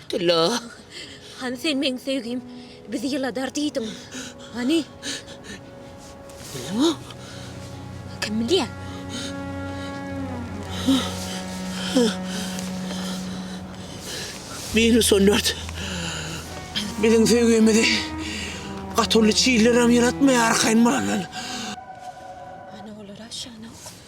Tylla, hany sen meň söýgim bizi ýyladar diýdiň, hany? Bildiňmi? Kim bilýär? Meni söndürt. Biziň söýgimizi gaty uly çillerem ýylatmaýar arkaýyn bolandan. Hany olar aşagyna ok.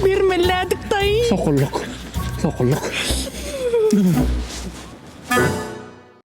Bermeledik daýy. Sokulluk. Sokulluk.